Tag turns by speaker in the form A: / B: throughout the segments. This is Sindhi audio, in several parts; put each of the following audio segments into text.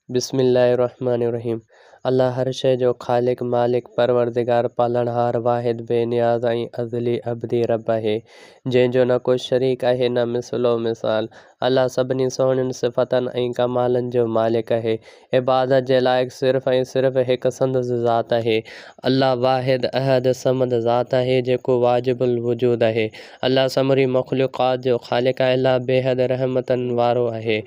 A: بسم الله الرحمٰن الرحيم الله هر شيء جو خالق، مالڪ، پروردگار، پالڻهار، واحد، بي نياز ۽ ازلي ابدي رب آهي، جنهن جو نه ڪو شريڪ آهي نه مثل و مثال. الله سڀني سهڻين صفتن ۽ ڪمالن جو مالڪ آهي. عبادت جي لائق صرف ۽ صرف هڪ سندس ذات آهي. الله واحد احد صمد ذات آهي جيڪو واجب الوجود آهي. الله سموري مخلوقات جو خالق آهي. الله بيحد رحمتن وارو آهي.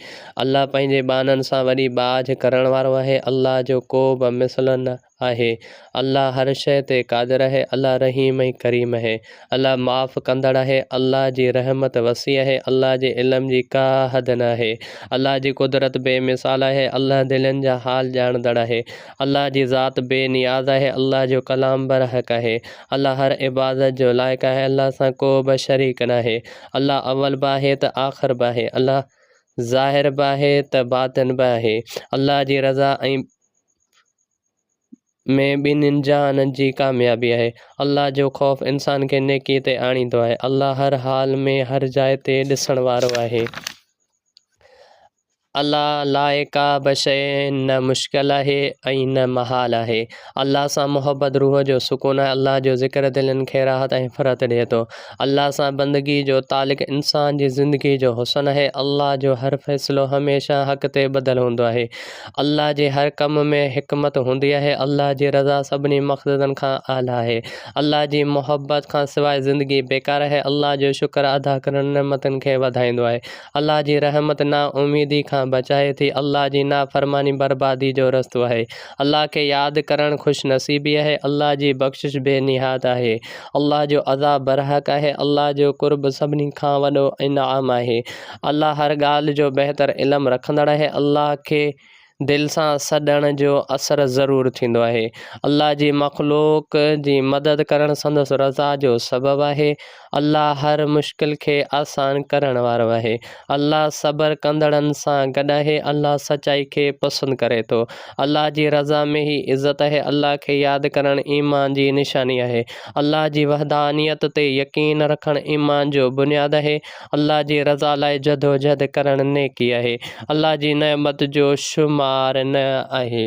A: الله پنهنجي ٻانهن سان وڏي ٻاجهه ڪرڻ وارو آهي. الله جو ڪوبه مثل نه آهي. الله هر شيء تي قادر آهي. الله رحيم ۽ ڪريم آهي. الله معاف ڪندڙ آهي. الله جي رحمت وسيع آهي. الله جي علم جي ڪا حد نه آهي. الله جي قدرت بي مثال آهي. الله دلين جا حال ڄاڻندڙ آهي. الله جي ذات بي نياز آهي. الله جو ڪلام برحق آهي. الله هر عبادت جو لائق آهي الله سان ڪو به شريڪ ناهي الله اول به آهي ته آخر به آهي الله ظاهر به آهي ته باطن به آهي الله جي رضا ۽ ۾ ٻنهن جهانن جي ڪاميابي آهي الله جو خوف انسان کي نيڪي تي آڻيندو آهي الله هر حال ۾ هر جاء تي ڏسڻ وارو آهي الله لاء ڪا به شيء نه مشڪل آهي ۽ نه محال آهي. الله سان محبت روح جو سڪون ۽ الله جو ذڪر دلين کي راحت ۽ فرحت ڏئي ٿو. الله سان بندگي جو تعلق انسان جي زندگي جو حسن آهي. الله جو هر فيصلو هميشه حق تي ٻڌل هوندو آهي. الله جي هر ڪم ۾ حڪمت هوندي آهي. الله جي رضا سڀني مقصدن کان اعليٰ آهي. الله جي محبت کان سواء زندگي بيڪار آهي. الله جو شڪر ادا ڪرڻ نعمتن کي وڌائيندو آهي. الله جي رحمت نا اميدي کان بچائي ٿي. الله جي نافرماني بربادي جو رستو آهي. الله کي ياد ڪرڻ خوش نصيبي آهي. الله جي بخشش بي نهايت آهي. الله جو عذاب برحق آهي. الله جو قرب سڀني کان وڏو انعام آهي. الله هر ڳالهه جو بهتر علم رکندڙ آهي. الله کي دل سان سڏڻ جو اثر ضرور ٿيندو آهي. الله جي مخلوق جي مدد ڪرڻ سندس رضا جو سبب آهي. الله هر مشڪل کي آسان ڪرڻ وارو آهي. الله صبر ڪندڙن سان گڏ آهي. الله سچائي کي پسند ڪري ٿو. الله جي رضا ۾ ئي عزت آهي. الله کي ياد ڪرڻ ايمان جي نشاني آهي. الله جي وحدانيت تي يقين رکڻ ايمان جو بنياد آهي. الله جي رضا لاء جدوجھد ڪرڻ نيڪي آهي. الله جي نعمت جو شمار نه آهي.